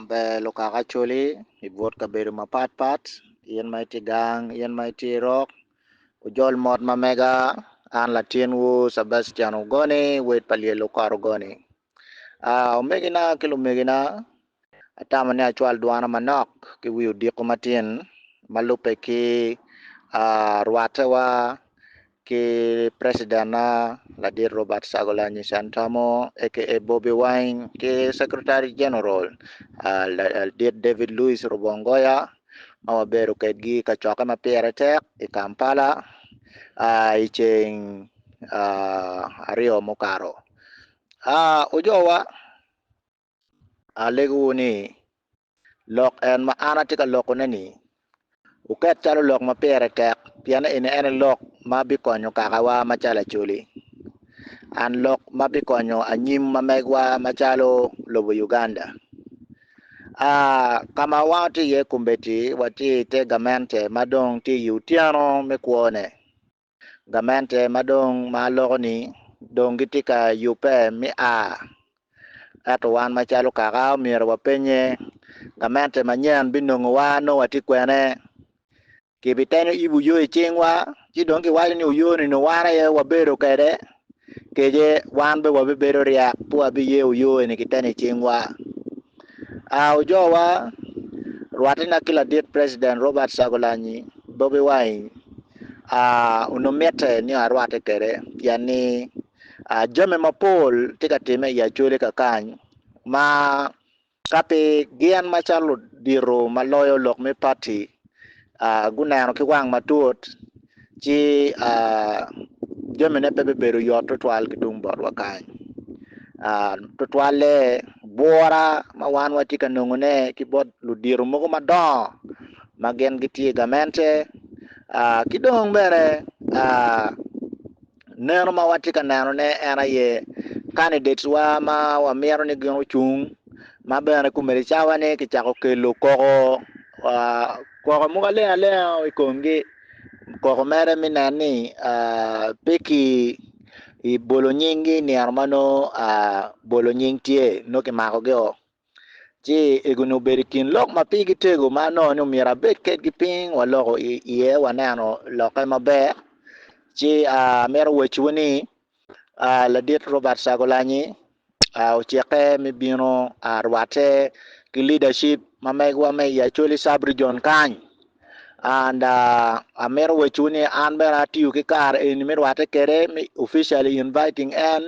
Ber lukaka coli i but kabedo mapat pat in ma itye gang in ma itye irok ojol mot ma mega an latinwu Cabastian Ogoni wed pa Lyel Okot Ogoni omegina ki lumegina atamo ni acwal dwana manok ki wi odiko matin ma lubbe ki rwatewa ki Preciden-na Ladit Robert Syagulanyi Sentamu aka Bobi Wine ki Secretary General Ladit David Louis Rubongoya ma wabedo kwedgi i kacokke ma pire tek i Kampala i ceng aryo mukato. Ojowa. Alegowu ni, lok en ma an atye ka lokone-ni oket calo lok ma pire tek, pien eni en aye lok ma bikonyo kakawa macalo Acholi, and lok ma bikonyo anyim ma megwa macalo lobo Uganda. A Ka ma watye iye kombeddi, watye i te gamente ma dong tye i otyeno me kwone. Gamente ma dong ma aloko-ni dong gitye ka yubbe me a. Ento wan macalo kaka, omyero wapennye, 'Gamente manyen binongowa nongo watye kwene? Kibiteno ibu yo i cingwa, ci dong kiwaco ni oyo-ni nongo wan aye wabedo kwede? kece wan bene wabibedo ryek pe wabiyeyo yo eni ki teni i cingwa. A Ojowa, rwatina ki ladit President Robert Kyagulanyi, Bobi Wine, a onongo mitte ni arwatte kwede pien ni a jami mapol tye ka timme i Acholi kakany ma Ka pi gin macalo ludito ma loyo lok me pati guneno ki wang matut, ci jamine pe bibedo yot tutwal ki tung botwa kany. Tutwalle, bwura ma wan watye ka nongone ki bot ludito mogo madongo ma gin gitye i gamente ki dong bene Neno ma watye ka nenone en aye kanidetwa ma wamito ni gin ocung, ma bene kumene cawa ni kicako kelo koko koko mogo aleng alenga i komgi. Koko mere me nen ni pe ki bolo nyinggi i nino ma nongo bolo nying tye, nongo kimakogi o. Ci egoni obedo i kin lok ma pigi tego ma anongo ni omyero abed kedgi piny waloko iye waneno lokke maber. Ci amito waciwu ni ladit Robert Kyagulanyi ocike me bino rwatte ki leadership ma megiwa me i Acholi Sub Region kany and amito waciwu ni an bene atiyo ki kare eni me rwatte kwede me officially inviting en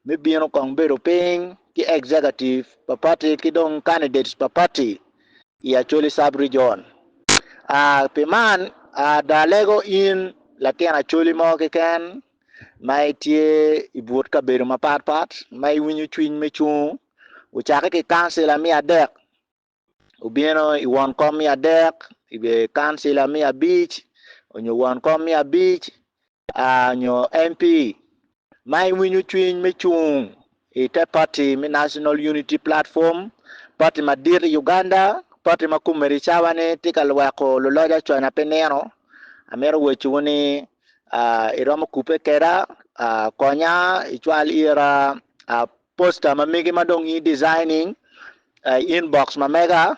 me bino kong bedo piny ki executive pa party ki dong candidates pa party i Acholi Sub Region. Aa pi man, ada alego in latin Acholi mo keken ma itye i but kabedo mapatpat ma iwinyo cwiny me cung, wucakke ki kancila me adek obino i won kom me adek, i bedo kancila me abic onyo won kom me abic onyo MP ma iwinyo cwiny me cung i te party me National Unity Platform, party madit i Uganda, party ma komedi cawa ni tye ka lweko luloc aconya pe nino, amito waco wu ni iromo kubbe keda konya icwal ira. Poster ma mege ma dong i designing, I inbox ma mega,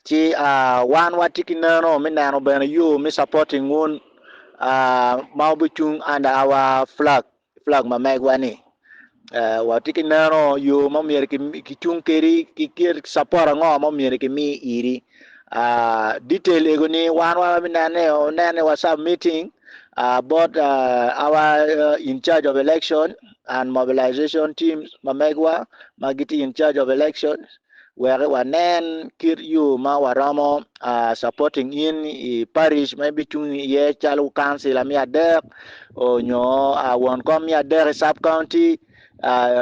ci wan watye ki neno me neno bene yo me supporting wun ma wubicung under our flag, flag ma megwa ni. Watye ki neno yo ma myero ki cung kedi ki support ango ma myero ki mi iri. Detail ego ni wan wa bi nene o nene wa submitting bot our in charge of election. and Mobilization Teams ma megwa ma gitye in charge of elections wek wanen kit yo ma waromo supporting in i Parish ma ibicung iye calo Councilor me adek onyo won kom me adek i Sub County,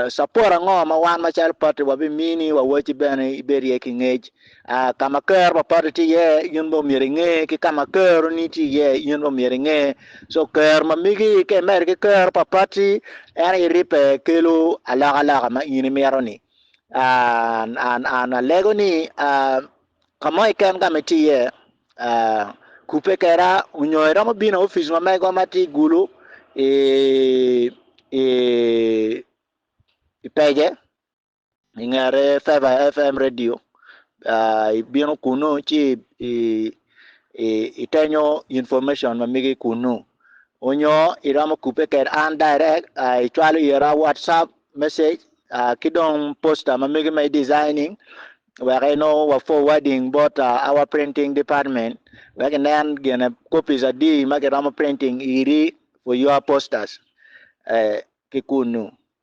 support ango ma wan macalo party wabimini wa waci bene ibed iye ki ngec A Ka ma kero pa patti tye iye, in bene omyero inge, ki ka ma keroni tye iye, in bene omyero inge. So kero ma migi ka imedde ki kero pa patti, en aye ribbe kelo alokaloka ma in imito-ni. A An an alego ni a ka mo keken ka ma itye iye, a kubbe kweda nyo iromo bino i opic ma mego ma tye i Gulu i i i Pege. i ngete Feva FM radio ibino kunu ci itenyo information ma migi kunu onyo iromo kubbe kwede an direct icwalo ira watsup message ki dong poster ma migi ma i designing wek inongo wa forwarding bot our printing department wek inen gene copies adi ma kiromo printing iri for your posters ki kunu.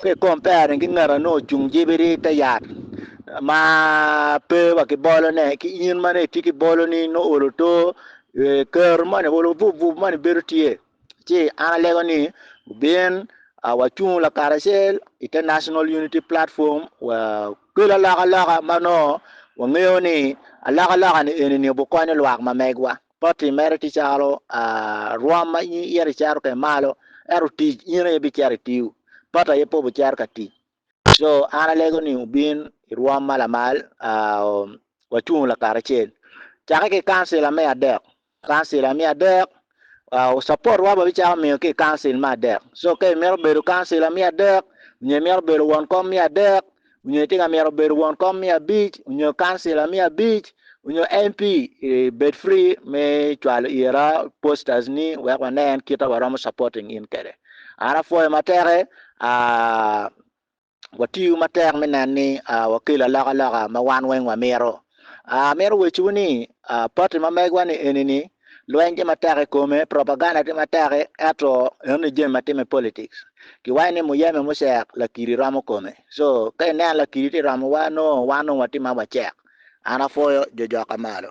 Ki i kompere ki ngat ma nongo ocung jebiri i te yat ma pe wa ki bolone, ki in ma nongo itye ki boloni nongo olo oto, kero moni olo obup bup moni bedo tye. Ci an alego ni wubin wacung lakaracel i te National Unity Platform wa kel alokaloka ma nongo wangeyo ni alokaloka-ni eni-ni obikonyo lwak ma megwa. Poti mere tye calo rwom ma in ito icito kwede malo, ento tic in aye ibicito itiyo, poti aye pe obicito ka tic. Co, an alego ni wubin i rwom ma lamal, wacung lakaracel. Cakke ki i kancila me adek, kancila me adek, supotwa wabicako miyo ki i kancil me adek. Co, ka imito bedo kancila me adek nyo imito bedo won kom me adek, onyo itye ka mito bedo won kom me abic onyo councilor me abic onyo MP bed free me cwalo ira posters ni wek wanen kita waromo supporting in kwede an apwoyo matek aah watiyo matek me nen ni wakelo alokaloka ma wan weng wamito. Amito wecciwu ni, pati ma megwa ni eni ni, lweny tye matek i kome, propaganda tye matek i, ento eno ni jami ma timme i politics. Kiwaco ni muyeme mucek, lakiri romo kome. So, ka ineno lakiri tye romowa, nongo wan nongo watye ma wacek. An apwoyo jo jok ka malo.